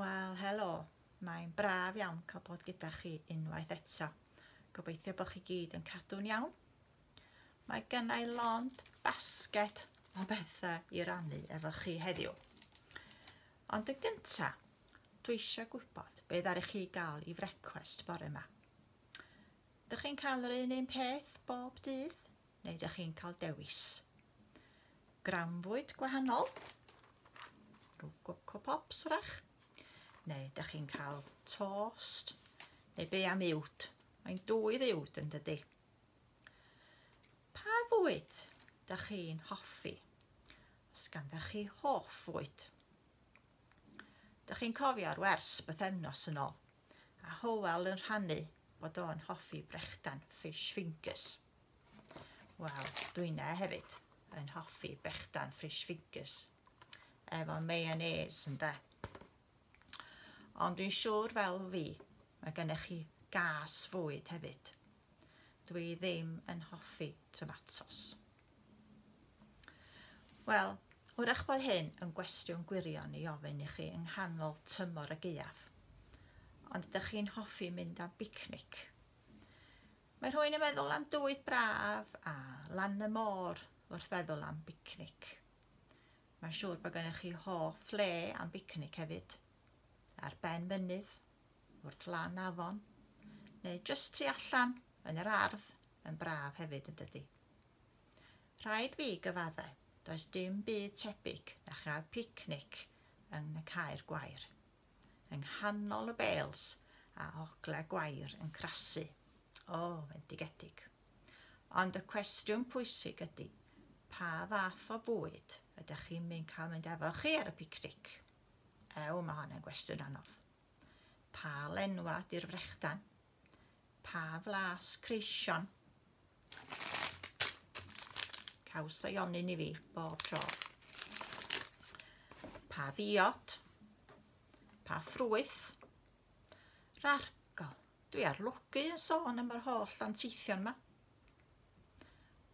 Wel, helo. Mae'n braf iawn cael bod gyda chi unwaith eto. Gobeithio bod chi gyd yn cadw'n iawn. Mae gennau lond basget o bethau i rannu efo chi heddiw. Ond yn gyntaf, dwi eisiau gwybod be ddaru chi gael i frecwest bore yma. Dych chi'n cael yr un un peth bob dydd neu dych chi'n cael dewis? Grawnfwyd gwahanol, rhyw Coco Pops wrach, neu dych chi'n cael tost neu be am uwd? Mae'n dwy ddiwd yn dydy. Pa fwyd dych chi'n hoffi? Os ganddo chi hoff fwyd? Dych chi'n cofio'r wers bythefnos yn ôl, a Howell yn rhannu bod o'n hoffi brechdan fish fingers. Wel, dwi'n e hefyd yn hoffi brechdan fish fingers efo mayonnaise ynde. Ond dwi'n siŵr fel fi, mae gennych chi gas fwyd hefyd. Dwi ddim yn hoffi tomatos. Wel, wrach bod hyn yn gwestiwn gwirion i ofyn i chi yng nghanol tymor y gaeaf. Ond ydych chi'n hoffi mynd am bicnic? Mae rhywun yn meddwl am dywydd braf a lan y môr wrth feddwl am bicnic. Mae'n siŵr bod gennych chi hoff le am bicnic hefyd, ar ben mynydd, wrth lan afon, neu jyst tu allan yn yr ardd yn braf hefyd yn dydy. Rhaid fi gyfadde, does dim byd tebyg na chael picnic yng Nghaer Gwair, yng nghanol y bêls a ogla gwair yn crasu, o, fendigedig. Ond y cwestiwn pwysig ydy, pa fath o fwyd ydych chi'n mynd cael mynd efo chi ar y picnic? Ew, mae hon yn gwestiwn anodd. Pa lenwa di'r frechdan? Pa flas creision. Caws ei onyn i fi bob tro. Pa ddiod. Pa ffrwyth. Rargol. Dwi ar lwgu yn sôn am yr holl anteithion yma.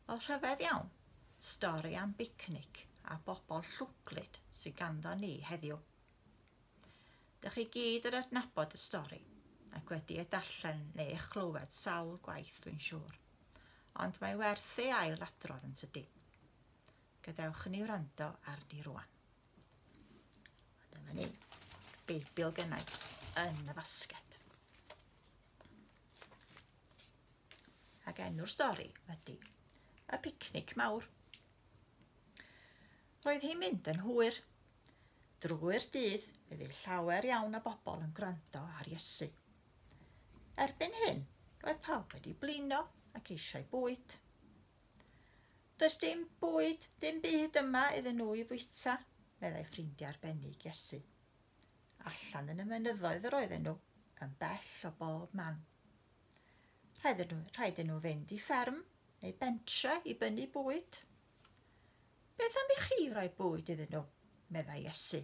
Wel, rhyfedd iawn. Stori am bicnic a bobl llwglyd sy'n ganddo ni heddiw. Dych chi gyd yn adnabod y stori ac wedi ei darllen neu ei chlywed sawl gwaith dwi'n siŵr, ond mae werth ei ail adrodd yn tydi. Gadewch ni wrando arni rwan. Dyma ni, Beibl gennau yn y fasged. Ac enw'r stori ydy Y Picnic Mawr. Roedd hi'n mynd yn hwyr Drwy'r dydd, fe fydd llawer iawn o bobl yn gwrando ar Iesu. Erbyn hyn, roedd pawb wedi blino ac eisiau bwyd. Does dim bwyd, dim byd yma iddyn nhw i fwyta, meddai ffrindiau arbennig Iesu. Allan yn y mynyddoedd yr oedden nhw, yn bell o bob man. Rhaid nhw, rhaid nhw fynd i fferm neu bentre i bynnu bwyd. Beth am i chi roi bwyd iddyn nhw? meddai Iesu.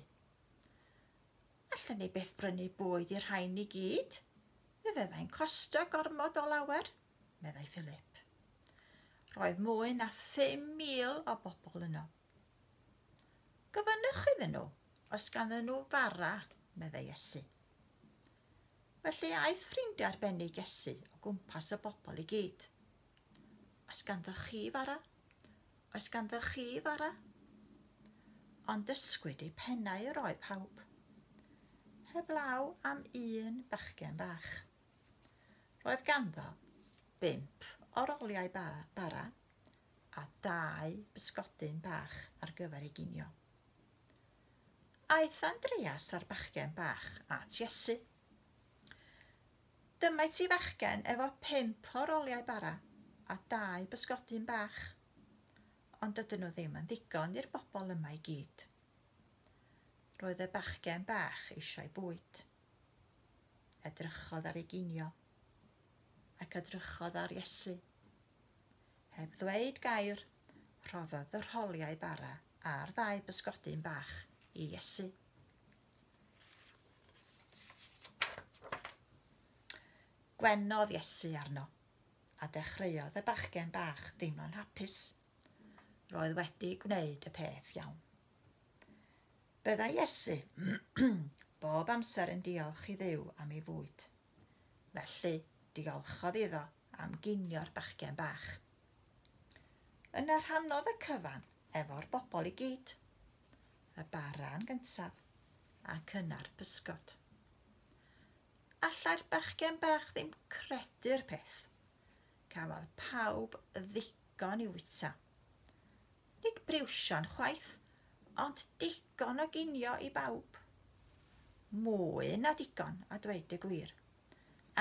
Allen ni byth brynu bwyd i'r rhain i gyd. Fe fyddai'n costio gormod o lawer, meddai Philip. Roedd mwy na 5,000 o bobl yno. Gofynnwch iddyn nhw os ganddyn nhw fara, meddai Iesu. Felly aeth ffrindiau arbennig Iesu o gwmpas y bobl i gyd. Os ganddoch chi fara, Oes ganddoch chi fara? Ond dysgwyd eu pennau yr oedd pawb, heblaw am un bachgen bach. Roedd ganddo bump o roliau ba, bara a dau bysgodyn bach ar gyfer ei ginio. Aeth Andreas a'r bachgen bach at Iesu. Dyma ti fachgen efo pump o roliau bara a dau bysgodyn bach. Ond dydyn nhw ddim yn ddigon i'r bobl yma i gyd. Roedd y bachgen bach eisiau bwyd. Edrychodd ar ei ginio ac edrychodd ar Iesu. Heb ddweud gair, rhoddodd y rholiau bara a'r ddau bysgodyn bach i Iesu. Gwenodd Iesu arno, a dechreuodd y bachgen bach deimlo'n hapus. Roedd wedi gwneud y peth iawn. Byddai Iesu bob amser yn diolch i ddew am ei fwyd. felly diolchodd iddo am ginio'r bachgen bach. Yna rhannodd y cyfan efo'r bobl i gyd, y baran gyntaf ac yna'r bysgod. Allai'r bachgen bach ddim credu'r peth. Cafodd pawb ddigon i wyta. Nid briwsion chwaith, ond digon o ginio i bawb. Mwy na digon, a dweud y gwir,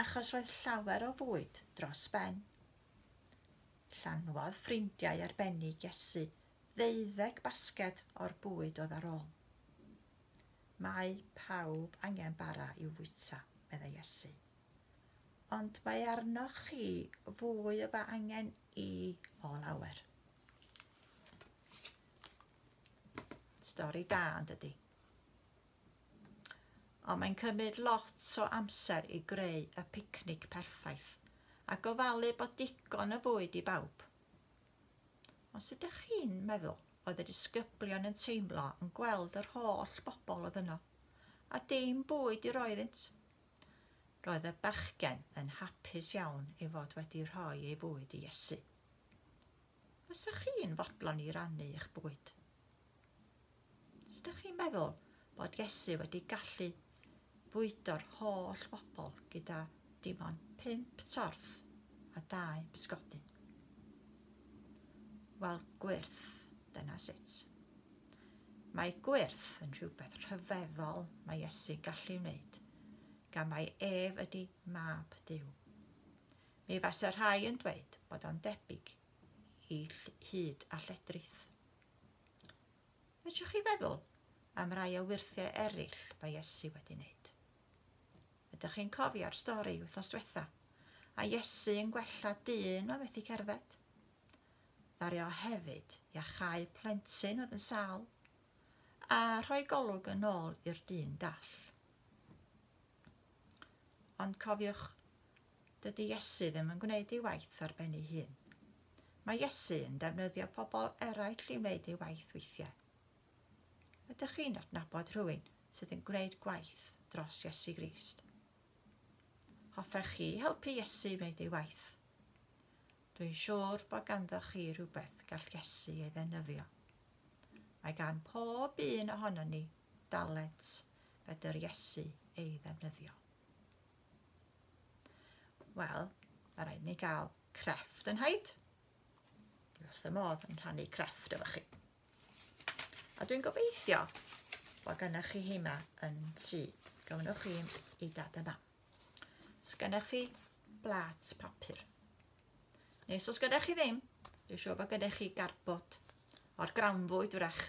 achos roedd llawer o fwyd dros ben. Llanwodd ffrindiau arbennig Iesu ddeuddeg basged o'r bwyd oedd ar ôl. Mae pawb angen bara i'w fwyta, meddai Iesu. Ond mae arnoch chi fwy o ba angen i o lawer. Stori da yn dydy. Ond mae'n cymryd lot o amser i greu y picnic perffaith a gofalu bod digon o fwyd i bawb. Ond sut ydych chi'n meddwl oedd y disgyblion yn teimlo yn gweld yr holl bobl oedd yno, a dim bwyd i roi iddynt? Roedd y bachgen yn hapus iawn ei fod wedi rhoi ei fwyd i Iesu. Fysa chi'n fodlon i rannu eich bwyd? Os da chi'n meddwl bod Iesu wedi gallu bwydo'r holl bobl gyda dim ond pump torth a dau bysgodyn? Wel, gwyrth, dyna sut. Mae gwyrth yn rhywbeth rhyfeddol mae Iesu'n gallu wneud, gan mae ef ydy mab Dyw. Mi fase rhai yn dweud bod o'n debyg i hud a lledrith. Fedrwch chi feddwl am rai o wyrthiau eraill mae Iesu wedi wneud. Ydych chi'n cofio'r stori wythnos diwetha, a Iesu yn gwella dyn o methu cerdded? Ddaru o hefyd iachau plentyn oedd yn sal, a rhoi golwg yn ôl i'r dyn dall. Ond cofiwch Dydy Iesu ddim yn gwneud ei waith ar ben ei hun. Mae Iesu yn defnyddio pobl eraill i wneud ei waith weithiau. Ydych chi'n adnabod rhywun sydd yn gwneud gwaith dros Iesu Grist? Hoffech chi helpu Iesu wneud ei waith? Dwi'n siŵr bod ganddoch chi rhywbeth gall Iesu ei ddefnyddio. Mae gan pob un ohonon ni dalent fedr Iesu ei ddefnyddio. Wel, mae rhaid ni gael crefft yn haid. Dwi wrth y modd yn rhannu crefft efo chi. A dwi'n gobeithio bod gennych chi heima yn tu. Gawnwch chi i dad yma. Os gennych chi blat papur. Neu os gennych chi ddim, dwi'n siŵr bod gennych chi garbod o'r grawnfwyd wrach.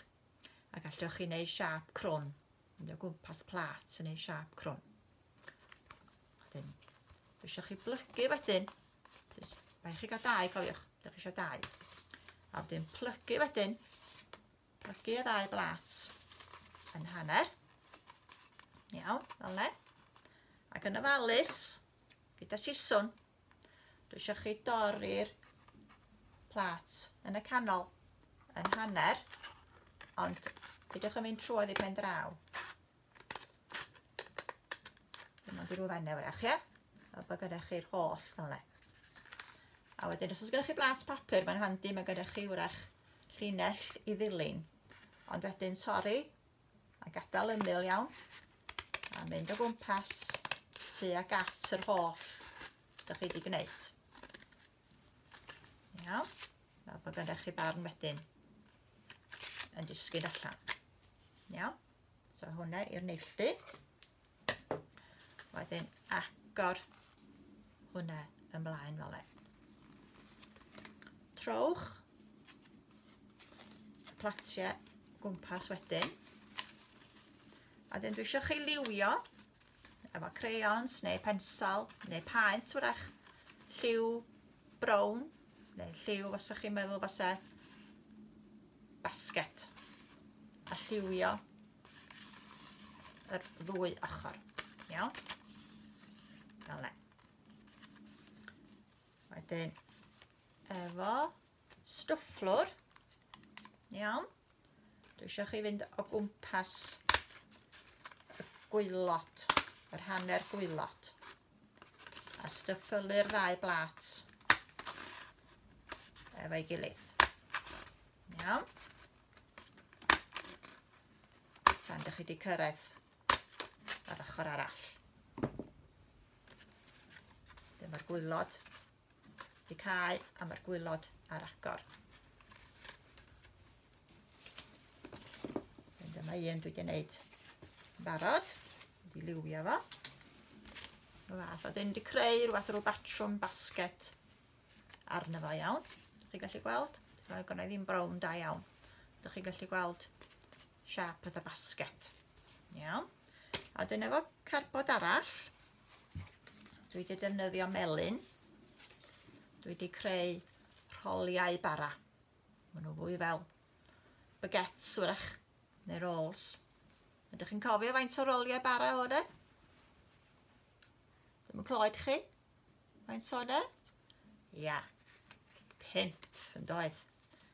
A gallwch chi wneud siap crwn mynd o gwmpas plat yn ei siap crwn. Wedyn, dwi eisiau chi blygu wedyn. Mae chi gael dau, cofiwch. Dych chi eisiau dau. A wedyn plygu wedyn. Plygu y ddau blat yn hanner. Iawn, fel le. Ac yn ofalus, gyda siswn, Dwi eisiau chi dorri'r plat yn y canol yn hanner, ond peidiwch yn mynd trwodd i pen draw. Dyma di rhyw fenne wrach, ie? A bod gyda chi'r holl fel le. A wedyn, os oes gyda chi blat papur, mae'n handi, mae gyda chi wrach llinell i ddilyn. Ond wedyn torri a gadael ymyl iawn a mynd o gwmpas tu ag at yr holl ydych chi wedi gwneud. Iawn, fel bod gennych chi ddarn wedyn yn disgyn allan. Iawn, so hwnna i'r neilltu. Wedyn agor hwnna ymlaen fel e. Trowch y platiau gwmpas wedyn. A dyn dwi eisiau chi liwio efo crayons neu pensal neu paent wrach lliw brown neu lliw os ydych chi'n meddwl fase basget a lliwio yr ddwy ochr. Iawn? Fel le. Wedyn, efo stwfflwr, iawn, dwi eisiau chi fynd o gwmpas y gwylod, yr hanner gwylod. a styffylu'r ddau blat efo'i gilydd. Iawn. Tan dych chi wedi cyrraedd ar ochr arall. Dyma'r gwylod Di cae a mae'r gwylod ar agor. Ond dyma un dwi wedi gwneud barod. Wedi liwio fo. Rwy'n fath. A dyn wedi creu rhywbeth rhyw batrwm basket arno fo iawn. Chi'n gallu gweld? Rwy'n gwneud ddim brown da iawn. Dych chi'n gallu gweld siap oedd y basket. Iawn. A dyn efo carbod arall, Dwi wedi defnyddio melyn. Dwi wedi creu rholiau bara. Maen nhw fwy fel baguettes wrach, neu rolls. Ydych chi'n cofio faint o roliau bara o de? Dwi'n clywed chi? Faint o de? Ia, pimp yn doedd.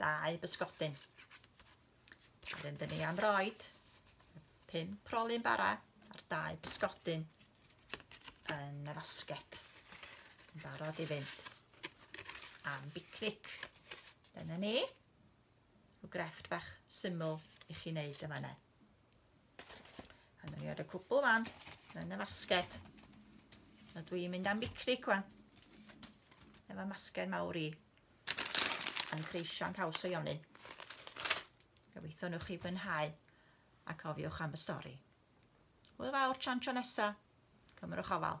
dau bysgodyn. Wedyn dyn ni am roed pum prolyn bara a'r dau bysgodyn yn y fasget. Yn barod i fynd am bicnic. Dyna ni. Rhyw grefft bach syml i chi wneud yma ne. A dyn ni ar y cwbl fan, yn y masged. A dwi'n mynd am bicnic fan. Efo masged mawr i. Yn creisio'n caws o Ionyn. Gobeithio nhw'ch chi fwynhau a cofiwch am y stori. Hwyl fawr tra'n tro nesa. Cymrwch ofal.